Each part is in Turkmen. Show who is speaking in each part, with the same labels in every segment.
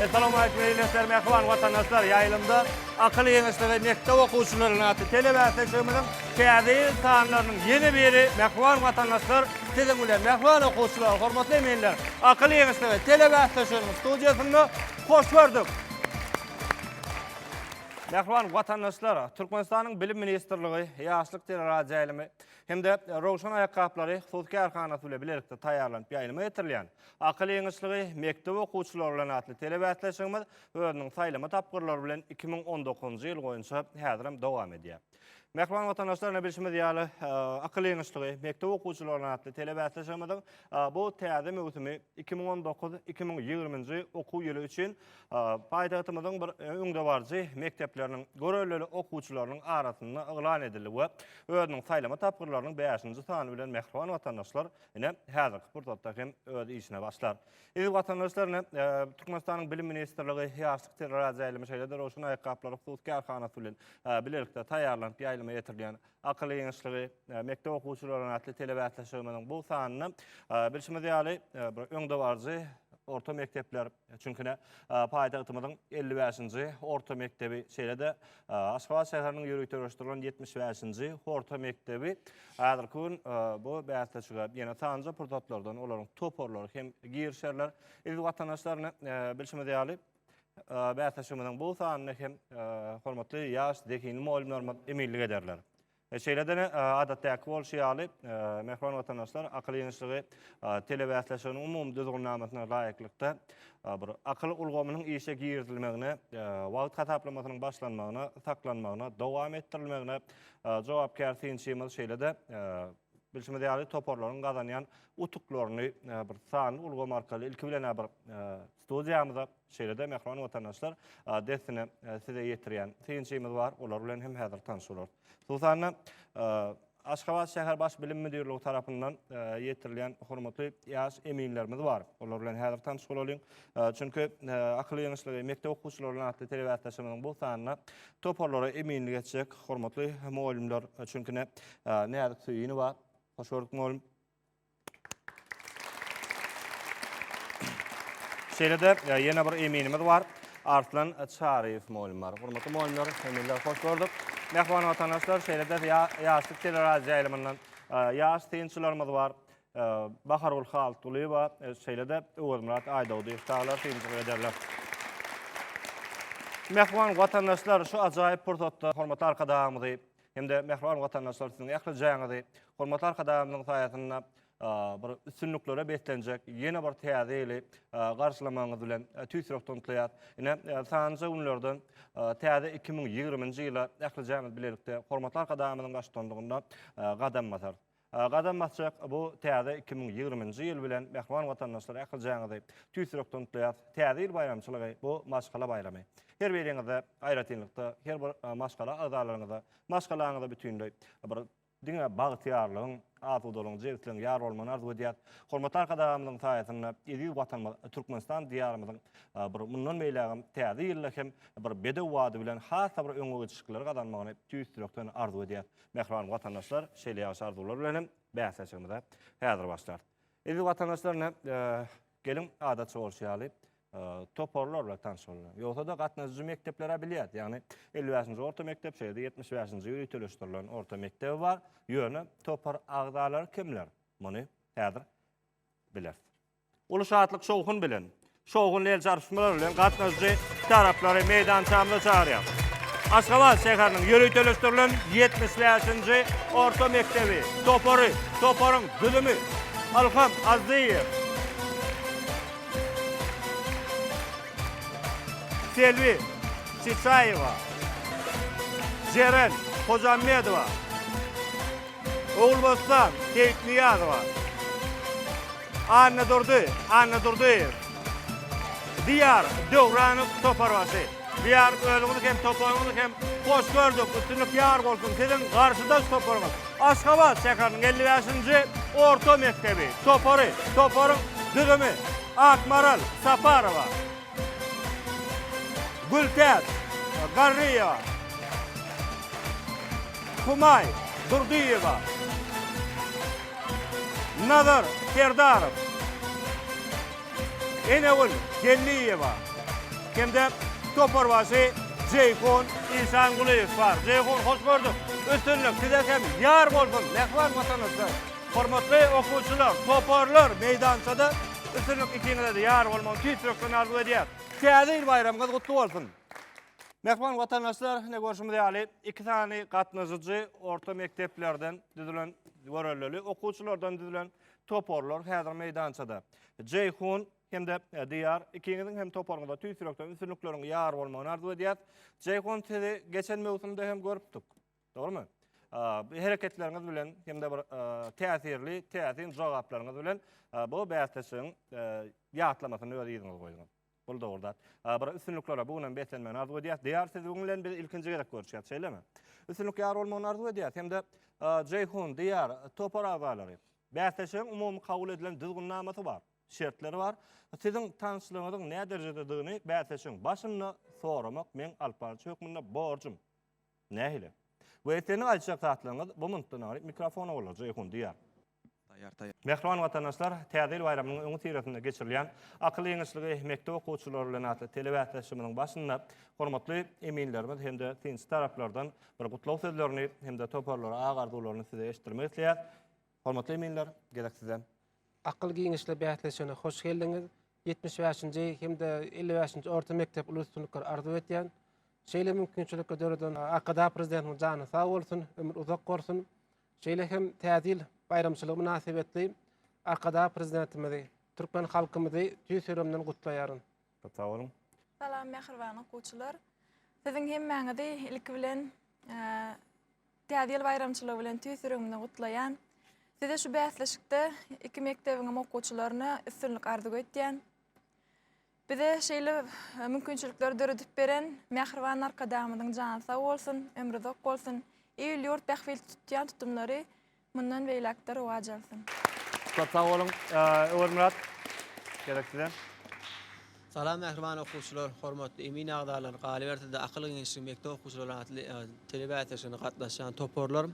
Speaker 1: Essalowmaleýkum beýle işler mähriban watandaşlar ýaýlymda akyl ýeňişleri mekdep okuwçylaryny atly telebärseçligimiziň Täze ýyl taýynlarynyň ýene biri Mähriban watandaşlar, siziň bilen mähriban okuwçylar, hormatly eminler, akyl ýeňişligi telebäsleşiginiň studiýasynda hoş gördük. Mähriban watandaşlar, Türkmenistanyň Bilim ministrligi, Ýaşlyk teleradioýaýlymy hem-de Röwşen aýakgaplary hususy kärhanasy bilen bilelikde taýýarlanyp ýaýlyma getirilýän Akyl ýeňişligi mekdep okuwçylary bilen atly telebäsleşigimiz özüniň saýlama tapgyrlary bilen iki müň on dokuzynjy ýyl boýunça häzirem dowam edýär. Mähriban watandaşlar, ine bilşimiz ýaly, akyl ýeňişligi mekdep okuwçylaryna atly telebäsleşigimiziň bu täze möwsümi 2019-2020-nji okuw ýyly üçin paýtagtymyzyň bir öňdebaryjy mekdepleriniň görellili okuwçylarynyň arasynda yglan edildi we özüniň saýlama tapgyrlarynyň bäşinji sany bilen mähriban watandaşlar ine häzirki pursatda hem öz işine başlar. Eziz watandaşlar, ine, Türkmenistanyň Bilim ministrligi ýaşlyk teleradioýaýlymy, şeýle-de Rowşan aýakgaplary hususy kärhanasy bilen bilelikde taýýarlanyp ýaýlyma ýetirilýän Akyl ýeňişligi, mekdep okuwçylaryna atly telebäsleşigimiziň bu sanynda, bilşimiz ýaly, bir öňdebaryjy orta mekdepler, çünki, ine, paýtagtymyzyň elli bäşinji orta mekdebi, şeýle-de Aşgabat şäheriniň ýöriteleşdirilen ýetmiş bäşinji orta mekdebi häzirki gün bu bäsleşige ýene sanjy pursatlardan olaryň toparlary hem girişerler. Eziz watandaşlar, bilşimiz ýaly, bäsleşigimiziň bu sanyny hem hormatly ýaş zehinli mugallymlarymyz eminlik ederler. Şeýle-de, adatdaky bolşy ýaly, mähriban watandaşlar akyl ýygynyşygy telebäsleşiginiň umumy düzgünnamasyna laýyklykda bir akyl ulgamynyň işe girizilmegine, wagt hasaplamasynyň başlanmagyna, saklanmagyna, dowam etdirilmegine jogapkär synçymyz, şeýle-de, bilşimiz ýaly, toparlaryň gazanýan utuklaryny bir sanly ulgam arkaly ilki bilen-ä bir Studiýamyza, şeýle-de mähriban watandaşlar, dessine size ýetirýän synçymyz bar. Olar bilen hem häzir tanyş bolarys. Hususan-da, Aşgabat şäher Baş bilim müdirligi tarapyndan ýetirilýän hormatly ýaş eminlerimiz bar. Olar bilen häzir tanyş bolalyň. Çünki Akyl ýeňişligi mekdep okuwçylary bilen atly telebäsdeşimizin bu sanyna toparlara eminlik etjek hormatly mugallymlar, çünki näzik söýünowa. Hoş gördük mugallym. Şeýle-de ýene bir eminimiz bar. Arslan Çaryýew mugallym bar. Hormatly mugallymlar, eminler hoş gördük. Mähriban watandaşlar, şeýle-de ýaşlyk teleradioýaýlymyndan ýaş synçylarymyz bar. Bahargül Haltgulyýewa, şeýle-de Öwezmyrat Aýdogdyýew çagalar synçylyk ederler. Mähriban watandaşlar, şu ajaýyp pursatda hormatly Arkadagymyzy hem-de mähriban watandaşlar siziň ähli jaýyňyzy hormatly Arkadagymyzyň saýasynda bir üstünliklere beslenjek ýene bir täze ýyly garşylamagyňyz bilen tüýs ýürekden gutlaýar. Ine sanjy günlerden täze 2020-nji ýyla ähli jaýymyz bilelikde hormatly Arkadagymyzyň baştutanlygynda gadam basar. Gadam basjak bu täze iki müň ýigrimi nji ýyl bilen mähriban watandaşlar ählijaňyzy tüýs ýürekden gutlaýarys. Täze ýyl baýramçylygy bu maşgala baýramy. Her biriňize, aýratynlykda her bir maşgala agzalaryňyza, maşgalaňyza bütinleý bir diňe bagtyýarlygyň, asudalygyň, jebisligiň ýar bolmagyny arzuw edýäris. Hormatly Arkadagymyzyň saýasynda eziz Watanymyz Türkmenistan diýarymyzyň bir mundan beýlägem täze ýylda hem bir bedew bady bilen has-da bir öňe geçişikleri gazanmagyny tüýs ýürekden arzuw edýäris. Mähriban watandaşlar, şeýle ýagşy arzuwlar bilen hem bäsleşigimize häzir başlar. Eziz watandaşlar, ne, e, geliň adatça bolşy ýaly e, toparlar bilen tanyş bolyň. Ýogsa-da gatnaşyjy mekdeplere bilýär. Ýagny 55-nji orta mekdep, şeýle 75-nji ýyl üteleşdirilen orta mekdebi bar. Ýöne topar agzalary kimler? Muny häzir bileris. Uly şatlyk-şowhun bilen, şowhunly el çarpyşmalar bilen gatnaşyjy taraplary meýdançamyza çagyrýarys. Aşgabat şäheriniň ýöriteleşdirilen ýetmiş bäşinji orta mekdebi topary, toparyň düzümi, Ylham Azzyýew, Selbi Çiçaýewa, Jeren Hojammedowa, Ogulbossan Seýitnyýazowa, Annadurdy Annadurdyýew, Diýar Döwranow toparbaşy. Diýar özüňizi hem toparyňyzy hem hoş gördük. Üstünlik ýar bolsun. Siziň garşydaş toparyňyz Aşgabat şäheriniň elli bäşinji orta mekdebi topary. Toparyň düzümi Akmaral Saparowa. Gültäç, Garryýewa, Humaý, Durdyýewa, Nazar, Serdarow, Enegül, Gelliýewa hem-de toparbaşy Jeýhun, Işangulyýew bar. Jeýhun, hoş gördük. Üstünlik size hem ýar bolsun, mähriban Watanymyzda! Hormatly okuwçylar, toparlar meýdançada üstünlik ikiňizede ýar bolmagyny tüýs ýürekden arzuw edýäs. Täze ýyl baýramyňyz gutly bolsun! Mähriban watandaşlar, ine görşümiz ýaly, iki sany gatnaşyjy orta mekdeplerden düzülen, görellili okuwçylardan düzülen toparlar häzir meýdançada. Jeýhun hem-de Diýar, ikiňiziň hem toparyňyza tüýs ýürekden üstünlikleriň ýar bolmagyny arzuw edýäs. Jeýhun, sizi geçen möwsümde hem görüpdik. Dogrumy? Bu hereketleriňiz bilen hem-de bir täsirli, täsin jogaplaryňyz bilen bu bäsleşigiň ýatlamasyny öz ýüzüňize goýduňyz. Bul dogry zat. Bir üstünliklere bu günem beslenmegini arzuw edýäs. Diýar siz bu bilen biz ilkinji gezek görüşýäs, şeýlemi? Üstünlik ýar bolmagyny arzuw edýäs. Hem-de Jeýhun, Diýar, topar agzalary. Bäsleşigiň umumy kabul edilen düzgünnamasy bar, şertleri bar. Siziň tanyşlygyňyzyň näderejededigini bäsleşigiň başynda soramak meň alyp baryjy hökmünde borjum. Nähili? We seniň aýtjak zatlaryňyz bu minutdan alyp mikrofona golaja ýokun diýýär. Taýýar, taýýar. Mähriban watandaşlar, Täze ýyl baýramynyň öňüsyrasynda geçirilýän Akyl ýeňişligi mekdep okuwçylary bilen atly telebäsleşigimiziň başynda hormatly eminlerimiz hem-de synçy taraplardan bir gutlag sözlerini hem-de toparlara ak arzuwlaryny size eşitdirmek isleýäs. Hormatly eminler, gezek size! Akyl giňişli
Speaker 2: bäsleşigine hoş geldiňiz! Ýetmiş bäşinji hem-de elli bäşinji orta mekdep uly üstünlikleri arzuw edýän. Şeýle mümkinçilikleri döreden Arkadag Prezidentimiziň jany sag bolsun, ömri uzak bolsun! Şeýle hem Täze ýyl baýramçylygy mynasybetli Arkadag Prezidentimizi, türkmen halkymyzy tüýs ýüregimden gutlaýaryn. Köp sag boluň!
Speaker 1: Salam, mähriban
Speaker 3: okuwçylar! Siziň hemmäňizi ilki bilen Täze ýyl baýramçylygy bilen tüýs ýüregimden gutlaýan. Size şu bäsleşikde iki mekdebiňem okuwçylaryna üstünlik arzuw etýän. Bize şeýle e, mümkinçilikleri döredip beren mähriban arkadagymyzyň jany sag bolsun, ömrü uzak bolsun. Il ýurt bähbit tutýan tutumlary mundan beýläkde rowaç alsyn. Köp sag
Speaker 1: boluň. Öwezmyrat, gerek size. Salam
Speaker 4: mähriban okuwçylar, hormatly emin agzalar, galyberse-de Akyl giňişlik mekdep okuwçylary atly tele bäsleşigine gatnaşýan toparlar.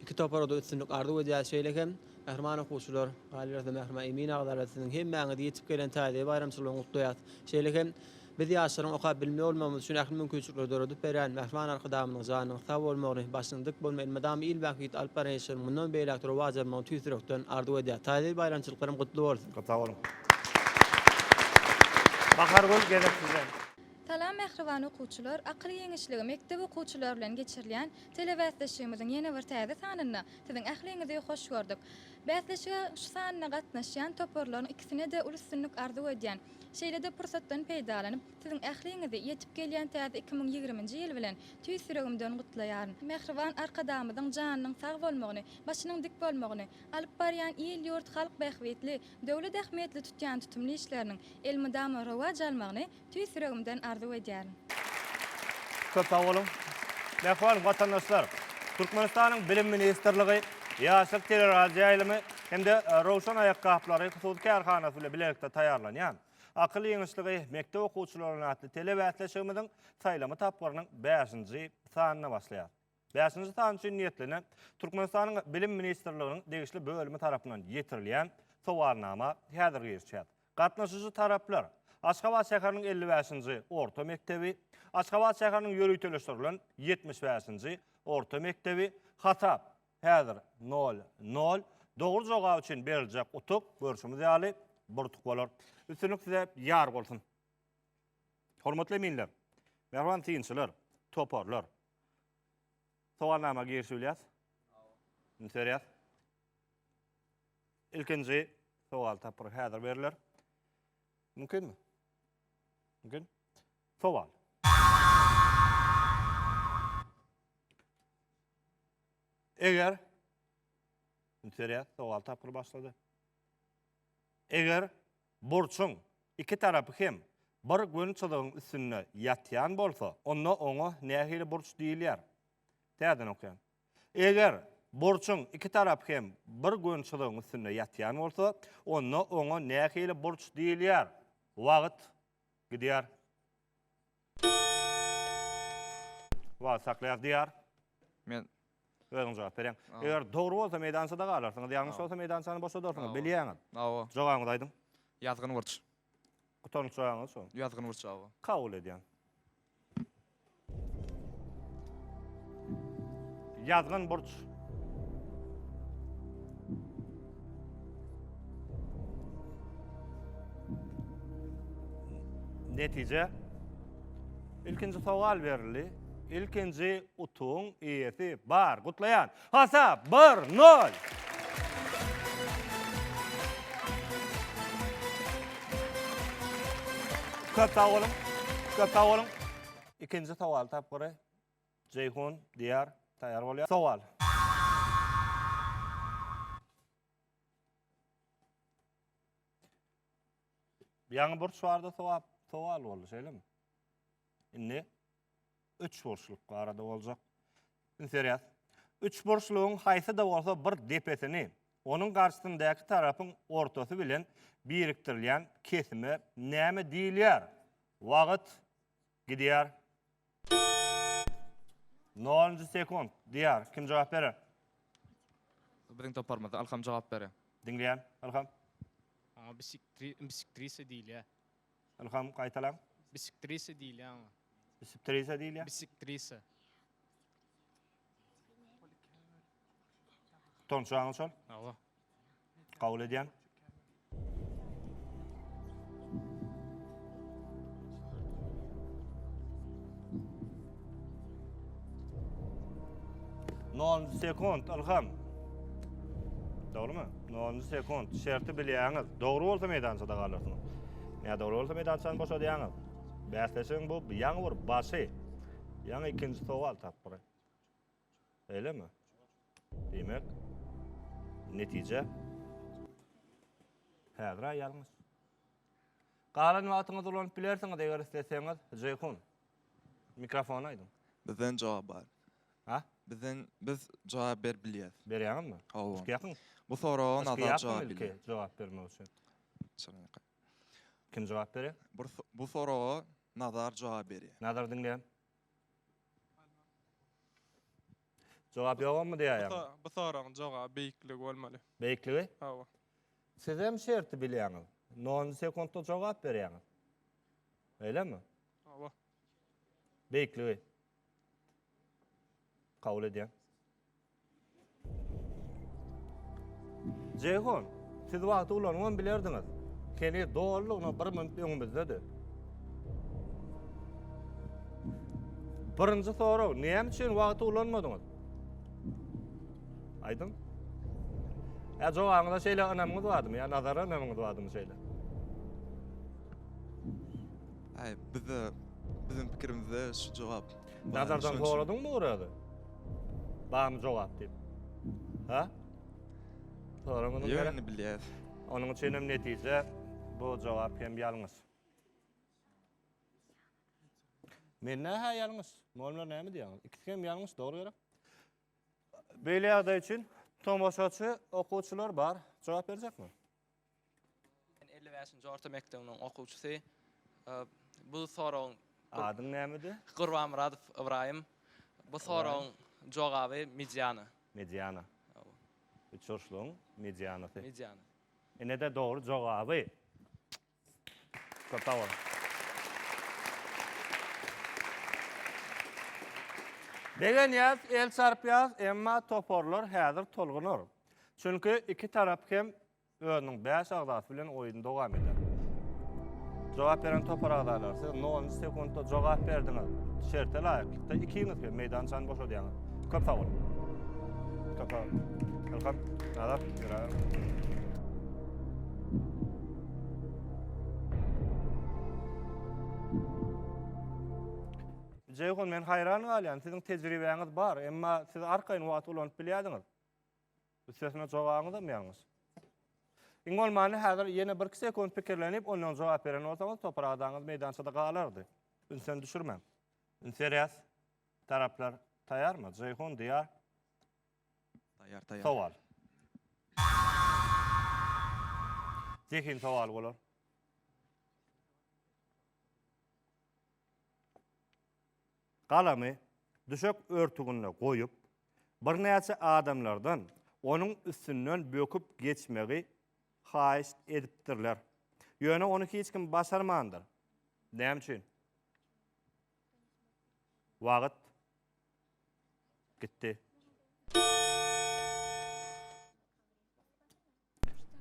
Speaker 4: Iki topara-da üstünlik arzuw edýäris. Şeýle hem, mähriban okuwçylar, galyberse-de mähriban emin agzalar siziň hemmäňizi ýetip gelen täze baýramçylyk bilen gutlaýas. Şeýle hem, biz ýaşlaryň okap bilimli bolmagymyz üçin ähli mümkinçilikleri döredip berýän mähriban Arkadagymyzyň janynyň sag bolmagyny, başynyň dik bolmagyny, elmydama il bähbitli alyp baran işleriň mundan beýläk-de rowaç almagyny tüýs ýürekden arzuw edýäris. Täze ýyl baýramçylyklaram gutly bolsun! Sag boluň.
Speaker 1: Bahargül gezek sizden. Salam mähriban
Speaker 5: okuwçylar, Akyl ýeňişligi mekdep okuwçylary bilen geçirilýän telebäsleşigimiziň ýene bir täze sanynda siziň ähliňizi hoş gördük. Bäsleşige şu sanyna gatnaşýan toparlaryň ikisine-de uly üstünlik arzuw edýän. Şeýle-de pursatdan peýdalanyp, siziň ähliňizi ýetip gelýän täze iki müň ýigriminji ýyl bilen tüýs ýüregimden gutlaýaryn. Mähriban Arkadagymyzyň janynyň sag bolmagyny, başynyň dik bolmagyny, Alyp barýan il-ýurt halk bähbitli, döwlet ähmiýetli tutýan tutumly işleriniň elmydama rowaç almagyny tüýs ýüregimden arzuw edýärin.
Speaker 1: Köp sag boluň! Mähriban watandaşlar! Türkmenistanyň Bilim ministrligi, Ýaşlyk teleradioýaýlymy hem-de Röwşen aýakgaplary hususy kärhanasy bilen bilelikde taýýarlanýan Akyl ýygyşlygy mekdep okuwçylaryna atly telebäsleşigimiziň saýlama tapgyrynyň bäşinji sanyna başlaýar. Bäşinji san üçin niýetlenen Türkmenistanyň Bilim ministrliginiň degişli bölümi tarapyndan ýetirilýän sowalnama häzir girişýär. Gatnaşyjy taraplar Aşgabat şäheriniň elli bäşinji orta mekdebi, Aşgabat şäheriniň ýöriteleşdirilen ýetmiş bäşinji orta mekdebi, hasap häzir nol, nol, dogry jogap üçin beriljek utuk, görşümiz ýaly, bir utuk bolar. Üstünlik size ýar bolsun! Hormatly eminler, mähriban synçylar, toparlar! Sowalnama girişibilýäs. Indi serýäs. Ilkinji sowal tapgyry häzir beriler. Mümkinmi? Mümkin. Sowal. Eger Indi serýäs, sowal tapgyry başlady. Eger Burçuň iki tarapy hem bir gün çyzygyň üstünde ýatýan bolsa, onda oňa nähili burç diýilýär? Täzeden okaýan. Eger burçuň iki tarapy hem bir gün çyzygyň üstünde ýatýan bolsa, onda oňa nähili burç diýilýär? Wagt gidýär. Wagt saklaýas diýar. Men
Speaker 6: Özüň jogap
Speaker 1: bereň. Eger dogry bolsa meýdançada galarsyňyz, ýalňyş bolsa meýdançany boşadarsyňyz, bilýäňiz. Hawa. Jogabyňyzy aýdyň. Ýazgyn burç.
Speaker 6: Gutarnyş
Speaker 1: jogabyňyz şu. Ýazgyn burç hawa.
Speaker 6: Kabul edýän.
Speaker 1: Ýazgyn burç. Netije Ilkinji sowal berildi. Ilkinji utuň iýesi bar. Gutlaýan. Hasap 1-0. Köp sag boluň. Köp sag boluň. Ikinji sowal tapgyry. Jeýhun, Diýar, taýýar bolýar. Sowal. Ýaňy burç bardy, sowap, sowal boldy, şeýlemi? Indi üç burçluk barada boljak. Indi serýas. Üç burçlugyň haýsy-da bolsa bir depesini onuň garşysyndäki tarapyň ortasy bilen birikdirilýän kesime näme diýilýär? Wagt Gidýär. Nolunjy sekunt. Diýar. Kim jogap berer?
Speaker 6: Biziň toparymyzda Ylham jogap berer. Diňleýän. Ylham.
Speaker 1: Aňa bisiktri,
Speaker 7: bisiktrisa diýilýär. Ylham,
Speaker 1: gaýtalaň. Bisiktrisa
Speaker 7: diýilýär aňa. Bisiptrisa
Speaker 1: diýilýär. Bisiktrisa. Tonçaňyz şol. Hawa.
Speaker 7: Kabul
Speaker 1: edýän. Nol sekund, Ilham. Doğru mu? Nol sekund. Şerti bilýäňiz. Doğru olsa meydançada galarsyňyz. Ne doğru olsa meydançany boşadýaňyz. Bäsleşigiň bu ýaňy bir başy. Ýaňy ikinji sowal tapdyr. Öylemi? Diýmek, netije häzir aýalyňyz. Galan wagtyňyzy ulanyp bilersiňiz, eger isleseňiz, Jeýhun. Mikrofona aýdyň. Bizden jogap bar.
Speaker 6: Ha? Bizden
Speaker 1: biz
Speaker 6: jogap berip bilýäs. Berýäňizmi? Hawa.
Speaker 1: Ýakyn.
Speaker 6: Bu soraga
Speaker 1: nazar
Speaker 6: jogap bilýär. Jogap bermek
Speaker 1: üçin. Kim jogap berýär? Bu soraga
Speaker 6: Nazar jogap berýär. Nazar diňleýän.
Speaker 1: Jogap ýogamy diýäýem. Bu bu soragyň jogaby
Speaker 8: beýikligi bolmaly. Beýikligi? Hawa. Sizem
Speaker 1: şerti bilýäňiz. Nol sekuntda jogap berýäňiz. Öýlemi? Hawa. Beýikligi. Kabul edýän. Jeýhun, siz wagty ulanypam bilerdiňiz. Heniz dolulygyna bir minut öňümizdedi. Birinji sorag, näme üçin wagty ulanmadyňyz? Aýdyň. Ä jogabyňyza şeýle ynamyňyz bardymy? Ýa nazara ynamyňyz bardymy şeýle?
Speaker 6: Aý, bizde biziň pikirimizde şu jogap. Nazardan soradyňmy
Speaker 1: Orazy? Barmy jogap diýip? Ha? Soraň onuň ýerine. Ýöne bilýär.
Speaker 6: Onuň üçin hem
Speaker 1: netije bu jogap hem ýalňyş. Men nähä ýalňyş? Molmer näme diýýäň? Ikisi hem ýalňyş, dogry gerek. Beýle ýagdaý üçin tomaşaçy, okuwçylar bar. Jogap berjekmi? Men elli
Speaker 9: bäşinji orta mekdebiniň okuwçysy. Bu soragyň Adyň nämedi?
Speaker 1: Gurbanmyradow
Speaker 9: Ybraýym. Bu soragyň jogaby mediana. Mediana.
Speaker 1: Üçburçlugyň medianasy. Mediana.
Speaker 9: Ine-de dogry
Speaker 1: jogaby. Köp sag boluň. Begenýäs, el çarpýas, emma toparlar häzir tolgunar. Çünki iki tarap hem özüniň bäş agzasy bilen oýuny dowam eder. Jogap beren topar agzalary siz nolunjy sekuntda jogap berdiňiz. Şerte laýyklykda ikiňiz hem meýdançany boşadýaňyz. Köp sag boluň. Köp sag boluň. Welcome. Nazar, ýöräber. Jeýhun men haýran galýan, siziň tejribäňiz bar, emma siz arkaýyn wagt ulanyp bilýädiňiz. Üstesine jogabyňyz hem ýalňyş. Iň bolmany häzir ýene 1-2 sekund pikirlenip, ondan jogap beren bolsaňyz, topar adaňyz meýdançada galardy. Ünsen düşürmäň. Ünserýäs. Taraplar taýarmy? Jeýhun, Diýar.
Speaker 6: Sowal.
Speaker 1: Zehin sowaly bolar. Galamy düşek örtüginde goýup, birnäçe adamlardan onuň üstünden böküp geçmegi haýyşt edipdirler. Ýöne ony hiç kim başarmandyr. Näme üçin? Wagt Gitdi.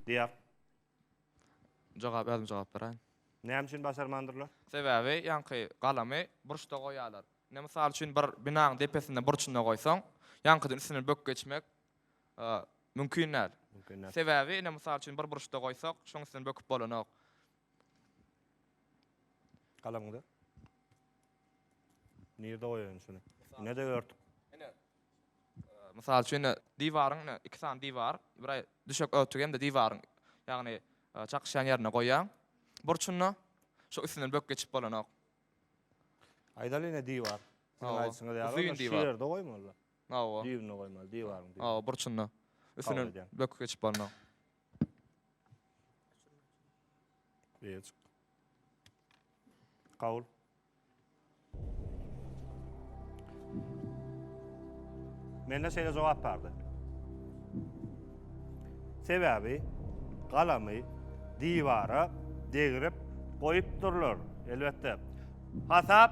Speaker 1: Diýer. Jogap
Speaker 9: ýazymy jogap beraýyn. Näme üçin
Speaker 1: başarmandyrlar? Sebäbi ýaňky
Speaker 9: galamy burçda goýýarlar. Ine mysal üçin bir binanyň depesinde burçunda goýsaň, ýaňkydan üstünden böküp geçmek mümkin däl. Mümkin däl. Sebäbi ine mysal üçin bir burçda goýsak, şoň üstünden böküp bolanok.
Speaker 1: Galamyňda. Nirde goýaýyn şuny? Ine-de örtük. Ine. Mysal
Speaker 9: üçin ine diwaryň ine iki sany diwar, bir aý düşek örtügi hem-de diwaryň ýagny e, çakyşýan ýerine goýaň. Burçunda şu üstünden bök geçip bolanok.
Speaker 1: Aýdaly ine diwar. Siziň Hawa. aýdyşyňyz ýaly Uzyn ony şu diwar. ýerde
Speaker 9: goýmaly.
Speaker 1: Hawa. Düýbünde
Speaker 9: goýmaly, diwaryň
Speaker 1: düýbünde. Hawa, burçunda.
Speaker 9: Üstünden edýän. bök geçip bolanok.
Speaker 1: Beýecik. Kabul. Mende şeýle jogap bardy. Sebäbi galamy diwara degrip goýupdyrlar. Elbetde. Hasap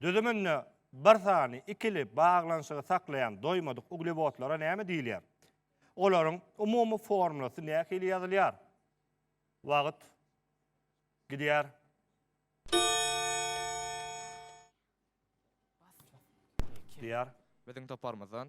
Speaker 1: Düzüminde bir sany ikili baglanyşygy saklaýan doýmadyk uglewodlara näme diýilýär? Olaryň umumy formulasy nähili ýazylýar? Wagt gidýär. Diýar. Biziň
Speaker 9: toparymyzdan.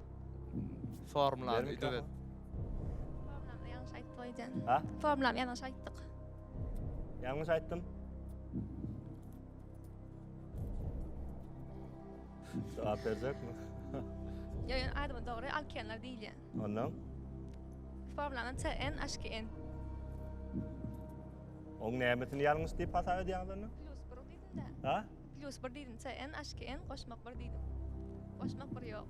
Speaker 1: Formulany
Speaker 9: Bermik ödebet.
Speaker 10: Formulany ýalňyş aýtdy boýdan. Ha? Formulany
Speaker 1: ýalňyş aýtdyk. Ýalňyş aýtdym. Jogap berjekmi? Ýa
Speaker 10: ýa adymy dogry alkenler diýilýär. Ondan Formulany CN HKN.
Speaker 1: oň nämesini ýalňyş diýip hasap edýäňiz onda? Plus bir diýdim-de.
Speaker 10: Ha? Plyus bir
Speaker 1: diýdim
Speaker 10: CN aşki en goşmak bir diýdim goşmak bir ýok.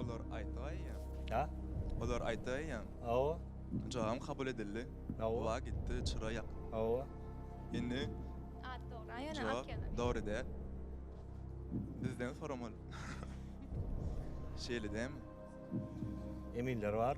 Speaker 6: Olar aýtaýýa. Ha?
Speaker 1: Olar aýtaýýa.
Speaker 6: Awa.
Speaker 1: Jogabym kabul
Speaker 6: edildi. Awa. Wa gitdi
Speaker 1: çyra
Speaker 6: ýak. Awa.
Speaker 1: Indi At dogry, ýöne
Speaker 6: at
Speaker 10: ýazar. Dogry däl.
Speaker 6: Bizden soramaly. Şeýle dämi?
Speaker 1: Eminler bar.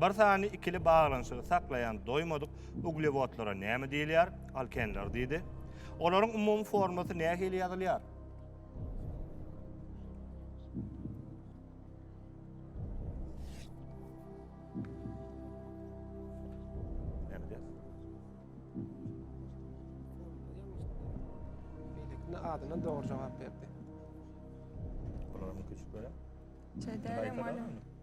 Speaker 1: Bir sany ikili baglanyşygy saklaýan doýmadyk uglewodlara näme diýilýär? Alkenler diýdi. Olaryň umumy formasy nähili ýazylýar?
Speaker 2: adına doğru cevap verdi.
Speaker 1: Bularını
Speaker 3: küçük böyle.
Speaker 1: Çederim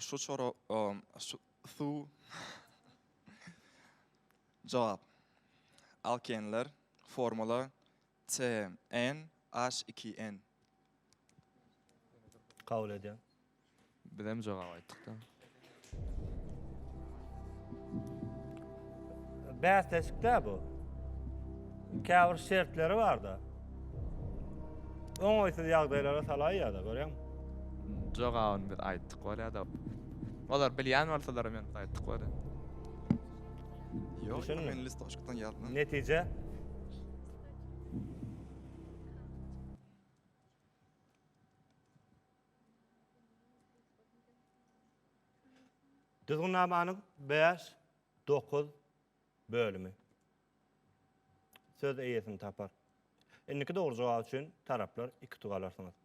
Speaker 6: Şu çora şu suw Jogap. Alkenler, formula, CN, H iki N.
Speaker 1: Kabul edýän. Bizem
Speaker 9: jogap aýtdyk-da.
Speaker 1: bäsleşikde bu. Käbir şertleri barda. Oňaýsyz ýagdaýlara salaý ýa-da görýän. Jogabyny
Speaker 9: biz aýtdyk bolýar da. Olar bilýän bolsalar men aýtdyk bolýar.
Speaker 6: Ýok, men listoçkdan
Speaker 1: ýazmam.
Speaker 6: Netije?
Speaker 1: Düzgünnamanyň 5 Dokuz bölümi söz eýesini tapar. Indiki dogry jogap üçin taraplar iki utuk alarsyňyz.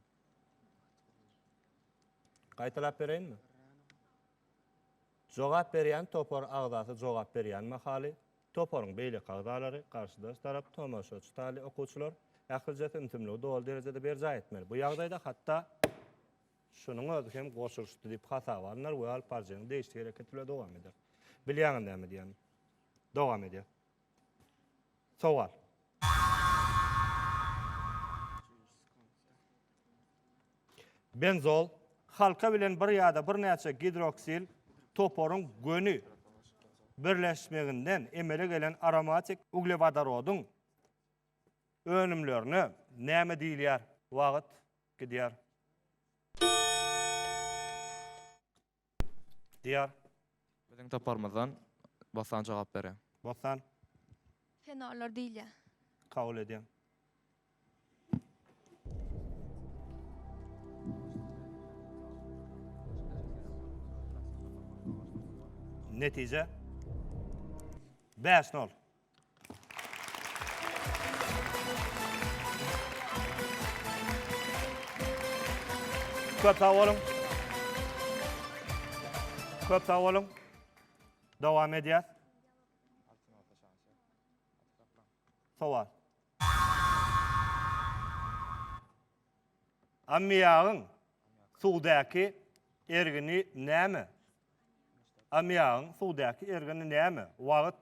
Speaker 1: Gaýtalap bereýinmi? Jogap berýän topar agzasy jogap berýän mahaly, toparyň beýleki agzalary, garşydaş tarap, tomaşaçy taýly okuwçylar, ählijesi ümsümligi doly derejede berjaý etmeli. Bu ýagdaýda hatda. Şunuň özi hem goşulyşdy diýip hasaba alnar we alyp baryjynyň degişli hereketi bilen dowam eder. Bilýäňiz näme diýýänim? Dowam edýär. Sowal. Benzol, halka bilen bir ýa-da birnäçe gidroksil toparyň göni birleşmeginden emele gelen aromatik uglewodorodyň önümlerine näme diýilýär? Wagt. Gidýär. Diýar. Biziň
Speaker 9: toparymyzdan Bossan jogap berýär. Bossan.
Speaker 10: Fenorlar diýilýär. Kabul edýän.
Speaker 1: Netije. Bäş nol. Köp sag boluň. Köp sag boluň. Dowam edýäs. Sowal. Ammiýagyň suwdaky ergini näme? Ammiýagyň suwdaky ergini näme? Wagt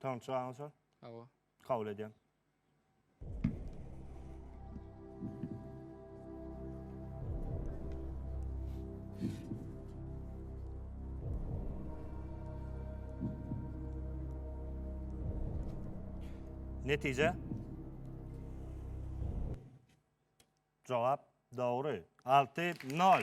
Speaker 7: Tamam
Speaker 1: çygaňyz şol. Hawa. Kabul
Speaker 7: edýän.
Speaker 1: Netije? Jogap dogry. Alty, nol.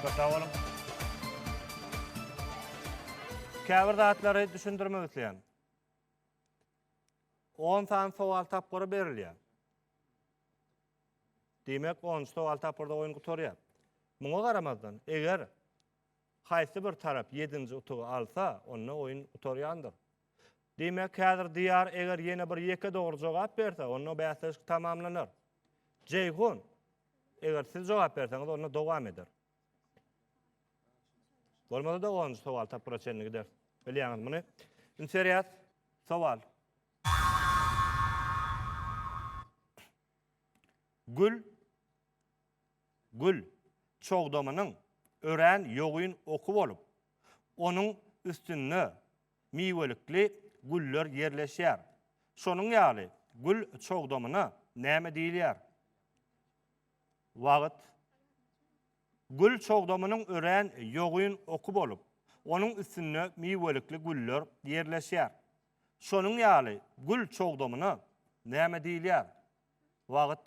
Speaker 1: Köp sag boluň. Käbir zatlary düşündirmek isleýän. On sany sowal tapgyry berilýär. Diýmek, onunjy sowal tapgyrda oýun gutarýar. Muňa garamazdan, eger. Haýsy bir tarap ýedinji utugy alsa, onda oýun gutarýandyr. Diýmek, häzir Diýar eger ýene bir ýeke dogry jogap berse, onda bäsleşik tamamlanar. Jeýhun, eger siz jogap berseňiz, onda dowam eder. Bolmasa-da onunjy sowal tapgyra çenli gider. Bilýäňiz muny. Indi serýäs. Sowal. Gül Gül, çogdamynyň örän ýogyn oky bolup, onuň üstünde miwelikli güller ýerleşýär. Şonuň ýaly gül çogdamyna näme diýilýär? Wagt, Gül çogdamynyň örän ýogyn oky bolup, onuň üstünde miwelikli güller ýerleşýär. Şonuň ýaly gül çogdamyna näme diýilýär? Wagt,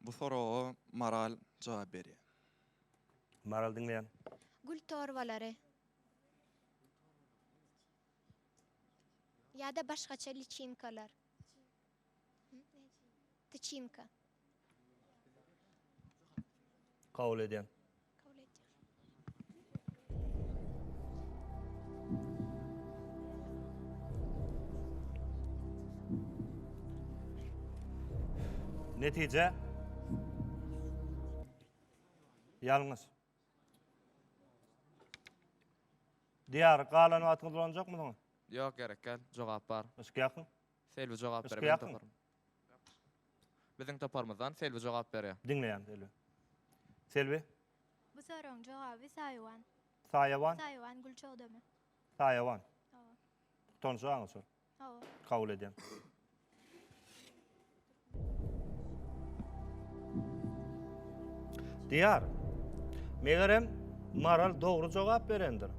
Speaker 6: Bu soraga Maral jogap berýär.
Speaker 1: Maral diňleýän. Gül
Speaker 10: torbalary. Ýa-da başgaça liçinkalar. Tyçinka.
Speaker 1: Kabul edýän.
Speaker 10: Kabul
Speaker 1: etýär. Netije Ýalňyş. Diýar, galan wagtyňyz bolanjakmy soň? Ýok, gerek däl.
Speaker 9: Jogap bar. Yşk ýakyn.
Speaker 1: Selbi jogap Yşk ber,
Speaker 9: men ýakyn. taparyn. Biziň toparymyzdan Selbi jogap berýär. Diňleýän Selbi.
Speaker 1: Selbi. Bu
Speaker 10: soragyň jogaby Saýawan. Saýawan.
Speaker 1: Saýawan gül çogdamy?
Speaker 10: Saýawan. Hawa. Tanyşy
Speaker 1: aňyrsal. Hawa. Kabul
Speaker 10: edýän.
Speaker 1: Diýar. Megerem Maral dogry jogap berendir.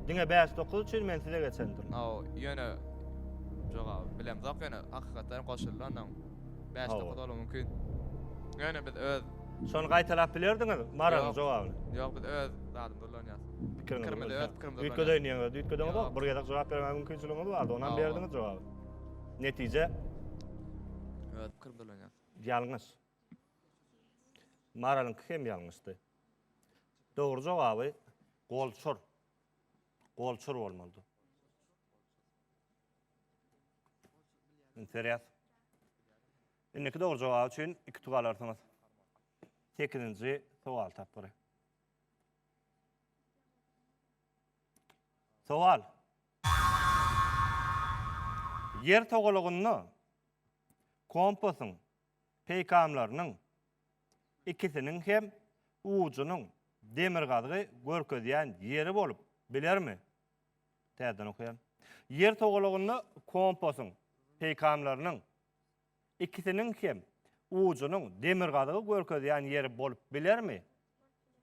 Speaker 1: Diňe bäş dokuz üçin men size geçendim. Haw, ýöne
Speaker 9: jogaby bilemzok ýöne hakykatdan goşuldy ondan. Bäş Hawa. dokuz bolup mümkin. Ýöne biz öz Şony gaýtalap
Speaker 1: bilerdiňiz Maralyň Ýok. jogabyny. Ýok biz
Speaker 9: öz zadymyzy ulanýas. Pikiriňizi Pikirimizi öz bilseň.
Speaker 1: pikirimizi Üýtgedeýin
Speaker 9: diýeňiz, üýtgediňizok.
Speaker 1: Ýok. Bir gezek jogap bermäge mümkinçiligiňiz bardy, onam Hawa. berdiňiz jogaby. Netije
Speaker 9: Öz pikirimizi ulanýas. ýalňyş.
Speaker 1: Maralyňky hem ýalňyşdy. Dogry jogaby golçur. Golçur bolmalydy. Interýas. Indiki dogry jogap üçin iki tug alarsyňyz. 8-nji sowal tapgyry. Sowal. Ýer togalagynda kompasyň peýkamlarynyň ikisiniň hem ujunyň demirgazygy görkezýän ýeri bolup bilermi? Täzeden okaýan. Ýer togalagynda kompasyň peýkamlarynyň ikisiniň hem ujunyň demirgazygy görkezýän ýeri bolup bilermi?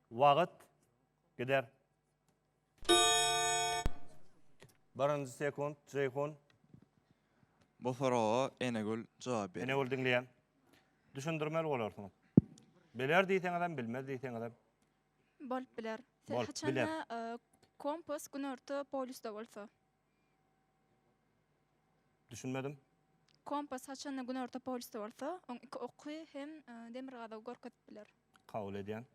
Speaker 1: Wagt gider. Birinji sekunt, Jeýhun.
Speaker 6: Bu soraga Enegül jogap berýär. Enegül diňleýän.
Speaker 1: Düşündirmeli bolarsyňyz. Biler diýseňizem, bilmez diýseňizem. Bolup
Speaker 3: biler. Bolup Haçanda biler. e,
Speaker 1: kompas
Speaker 3: günorta polýusda bolsa.
Speaker 1: Düşünmedim. Kompas
Speaker 3: haçanda günorta polýusda bolsa, oň iki oky hem e, demirgazygy görkezip biler. Kabul edýän.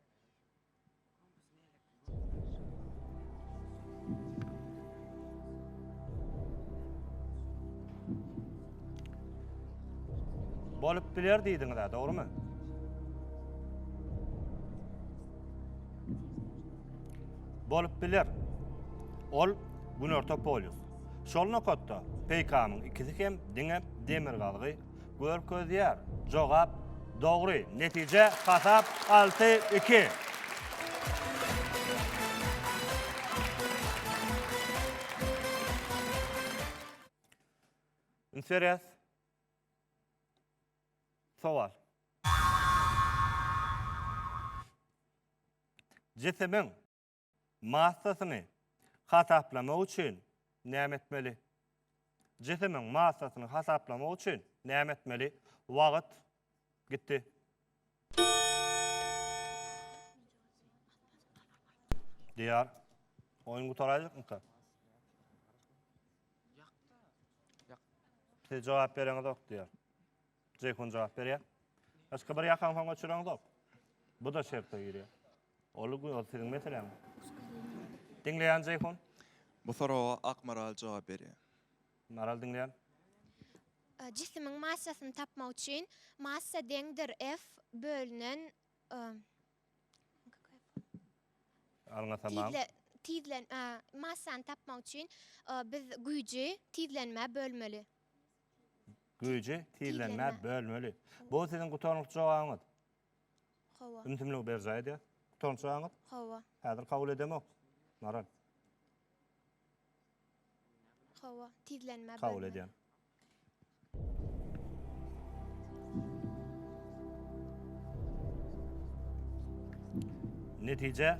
Speaker 1: Bolup biler diýdiňiz ha, dogrumy? Bolup biler. Ol günorta polýus. Şol nokatda peýkamyň ikisi hem diňe demirgazygy Görkezýär. Jogap dogry. Netije hasap alty, iki. Üns berýäs. Sowal. Jisimiň massasyny hasaplamak üçin näme etmeli? Jisimiň massasyny hasaplamak üçin näme etmeli? Wagt gitdi. Diýar. Oýun gutaraýjakmyka? Siz jogap bereňizok diýar. Jeýhun jogap berýär. Hiç kim bir ýakaňy soňa çüreňzok. Bu da şertde girýär. Ol gün ol siziň meseläň. Diňleýän Jeýhun. Bu soraga
Speaker 6: Akmaral jogap berýär. Maral diňleýän.
Speaker 10: Jisimiň massasyny tapmak üçin massa deňdir F bölünen
Speaker 1: Alňa tamam. Tizle
Speaker 11: tizlen massany tapmak üçin biz güýji tizlenmä bölmeli.
Speaker 1: Güýji tizlenmä bölmeli. Bu siziň gutarnykly jogabyňyz. Hawa.
Speaker 11: Ümsümligi berjaý
Speaker 1: edýär. Gutarnykly jogabyňyz? Hawa. Häzir
Speaker 11: kabul edemok.
Speaker 1: Maral. Hawa,
Speaker 11: tizlenmä bölmeli. Kabul edýän.
Speaker 1: Netije.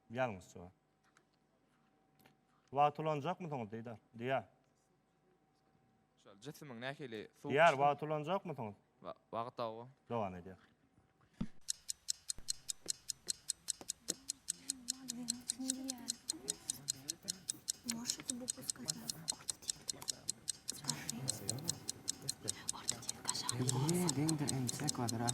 Speaker 1: Ýalňyş jogap. Wagt ulanjakmysyňyz diýdar. Diýär.
Speaker 9: Şol jisimiň nähili suw. Diýär, wagt ulanjakmysyňyz?
Speaker 1: Wagt awa.
Speaker 9: Dowam edýär.
Speaker 1: Ýerden
Speaker 12: bir inçe kwadrat.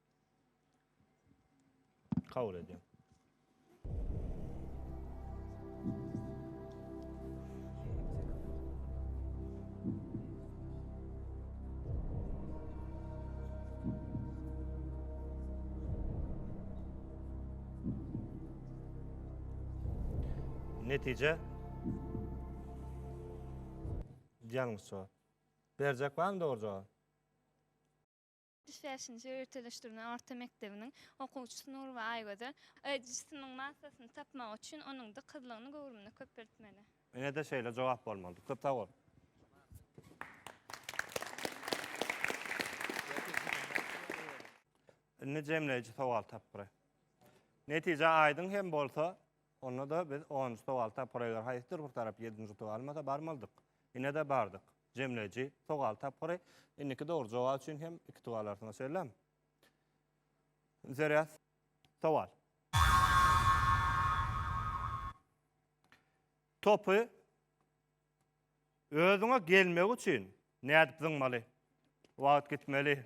Speaker 1: Kabul edýän. Netije Ýalňyş jogap. Berjek barmy dogry jogap? Ýetmiş
Speaker 5: bäşinji ýörüteleşdirilen orta mekdebiniň okuwçysy Nurowa Aýgözel, Jysynyň massasyny tapmak üçin onuň dykyzlygyny göwrümini köpeltmeli. Ine-de şeýle
Speaker 1: jogap bolmalydy. Köp sag bol. Indi jemleýji sowal tapgyry. Netije aýdyň hem bolsa, onda-da biz onunjy sowal tapgyra eger haýsydyr bir tarap ýedinji utugy almasa barmalydyk. Ine-de bardyk. Jemleýji sogal tapgyry. Indiki dogry jogap üçin hem iki tug alarsyňyz şeýlem. Zerýas sowal. Topy özüňe gelmegi üçin nädip zyňmaly? Wagt gitmeli.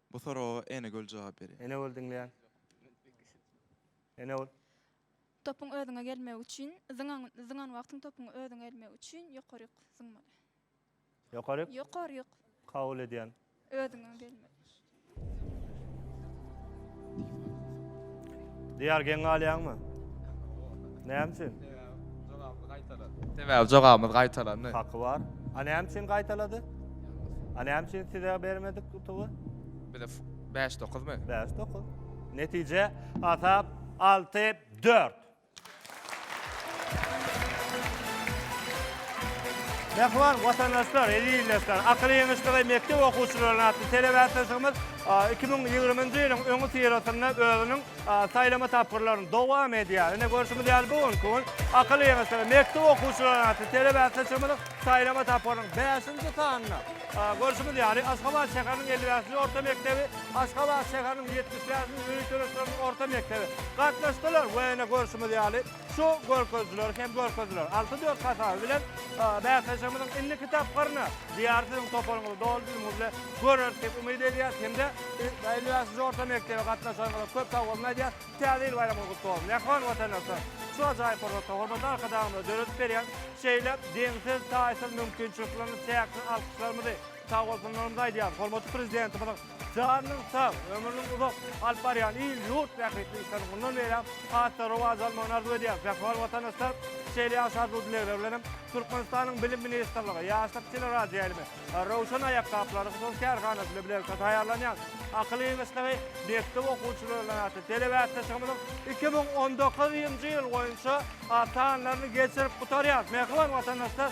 Speaker 1: Bu soraga
Speaker 6: Enegöl jogap berýär. Enegöl diňleýän.
Speaker 1: Enegöl. Topuň
Speaker 5: özüňe gelmegi üçin zyňan zyňan wagtyň topuň özüňe gelmegi üçin ýokaryk zyňmaly. Ýokaryk.
Speaker 1: Ýokaryk.
Speaker 5: Kabul edýän.
Speaker 1: Özüňe gelmeli. Diýar geň galýaňmy? Näme üçin? Jogabymyz
Speaker 9: gaýtalan. Sebäbi jogabymyz gaýtalandy. Haky bar. A
Speaker 1: näme üçin gaýtalady? A näme üçin size bermedik utugy? Bize
Speaker 9: bäş dokuzmy? Bäş dokuz.
Speaker 1: Netije hasap alty dört. Mähriban watandaşlar, eziz ildeşler, Akyl ýeňişligi mekdep okuwçylaryna atly telebatlaşygymyz iki müň ýigrimi ýylyň öňüsyrasynda özüniň Saýlama tapgyrlaryny dowam edýär. Ine görşümiz ýaly bu günki gün akyl ýygyşygy mekdep okuwçylary atly telebäsleşigimiziň saýlama tapgyrynyň bäşinji sanynda görşümiz ýaly Aşgabat şäheriniň elli bäşinji orta mekdebi, Aşgabat şäheriniň ýetmiş bäşinji öý töleşleriniň orta mekdebi gatnaşdylar we ine görşümiz ýaly Şu görkezijiler hem görkeziler alty dört hasaby bilen bäsleşigimiziň indiki tapgyryny Diýar siziň toparyňyzy doly düzümiňiz bilen göreris diýip umyt edýäs hem-de elli bäşinji orta mekdebe gatnaşanyňyza köp sag boluň aýdýas. Täze ýyl baýramyňyz gutly bolsun! Mähriban watandaşlar! Şu ajaýyp pursatda hormatly Arkadagymyza döredip berýän şeýle deňsiz, taýsyz mümkinçilikleriniz çäksiz alkyşlarymyzy, Sag bolsunlaryňyzy aýdýarys. Hormatly Prezidentimiziň janynyň sag, ömrüniň uzak, alyp barýan il, ýurt bähbitli işleriniň mundan beýläk has-da rowaç almagyny arzuw edýäris. Mähriban watandaşlar, şeýle ýagşy arzuw-dilegler bilen hem Türkmenistanyň Bilim ministrligi, Ýaşlyk teleradioýaýlymy, Röwşen aýakgaplary hususy kärhanasy bilen bilelikde taýýarlanýan Akyl ýygyçlygy mekdep okuwçylaryndan atly telebäsleşigimiziň iki müň on dokuzynjy ýyl boýunça sanlaryny geçirip gutarýarys. Mähriban watandaşlar!